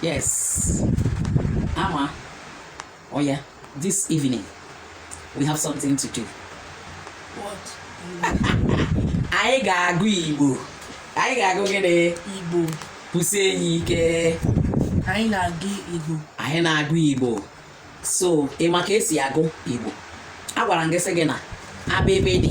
yes ama oh yeah this evening we have something to do what anyị ga-agụ igbo anyị ga-agụ gịnị igbo kwusie ya ike anyị na-agụ igbo anyị na-agụ igbo so ị ma ka esi agụ igbo agwara m gị sị gị na abịgbịdị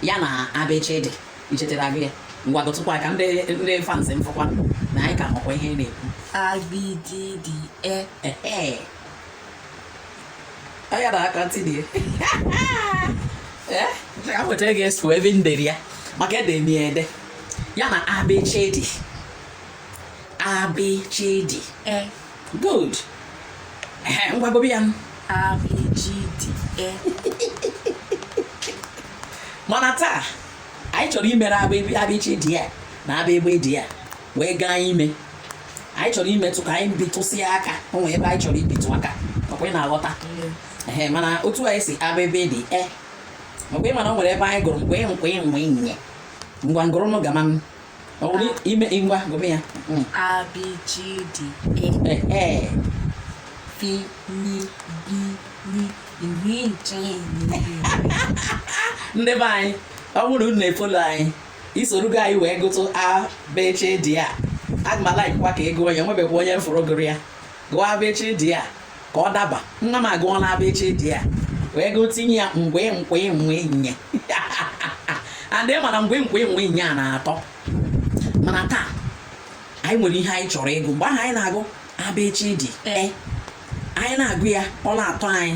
ya na abịchịdị i chetara gị ya ngwa gụtụkwa ka ndị ndị fans m fụkwa na anyị ka makwa ihe na-ekwu abịgbịdị e ee anya na aka ntị dị ee a nwetara gị esu ebe m dere ya maka ede m ya ede ya na abịchịdị abịchịdị e good ngwa gụbe ya mana taa anyị chọrọ imere abịchịdị ya na abịgbịdị a wee gaa ime anyị chọrọ imetụ ka anyị bitụsịa aka o nwere ebe anyị chọrọ ibitụ aka ọkwa ị na-aghọta ee mana otu anyị si abịgbịdị e mgbe ị mana o nwere ebe anyị gụrụ gwe kwe nwe nye ngwa gụrụnụ gama ọ bụrụ ime ngwa gụme ya abịchịdị ee fi ni bi ni iri nche ndị be anyị ọ bụrụ unu na-efolo anyị i soro ka anyị wee gụtụ abịchịdị a aga m alaikwa ka ị gụọ ya nwebekwa onye fụrụ gụrụ ya gụọ abịchịdị a ka ọ daba nwa m agụọla abịchịdị a wee gụtinye ya gwe kwe nwe nye and ị ma na gwe kwe nwe nye a na-atọ mana taa anyị nwere ihe anyị chọrọ ịgụ mgbe ahụ anyị na-agụ abịchịdị a, anyị na-agụ ya ọ na-atọ anyị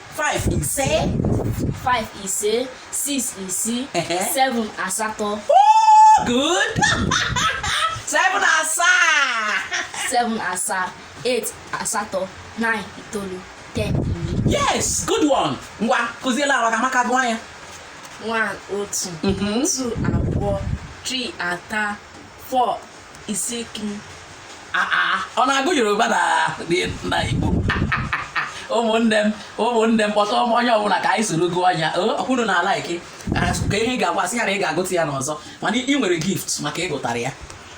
five ise five ise six isii Ehe. seven asatọ Oh, good seven asaa seven asaa eight asatọ nine itoolu ten iri yes good one ngwa kụziela awa ka amaka gụọ ya one otu Mhm. two abụọ three ata four isi kim ọ na-agụ yoruba na na igbo ụmụnne m ụmụnne m kpọta onye ọbụla ka anyị soro gụọ anya ọkwụrụ na ala ike ka ihe ị ga-agwa sị ya na ị ga-agụta ya n'ọzọ mana ị nwere gift maka ịgụtara ya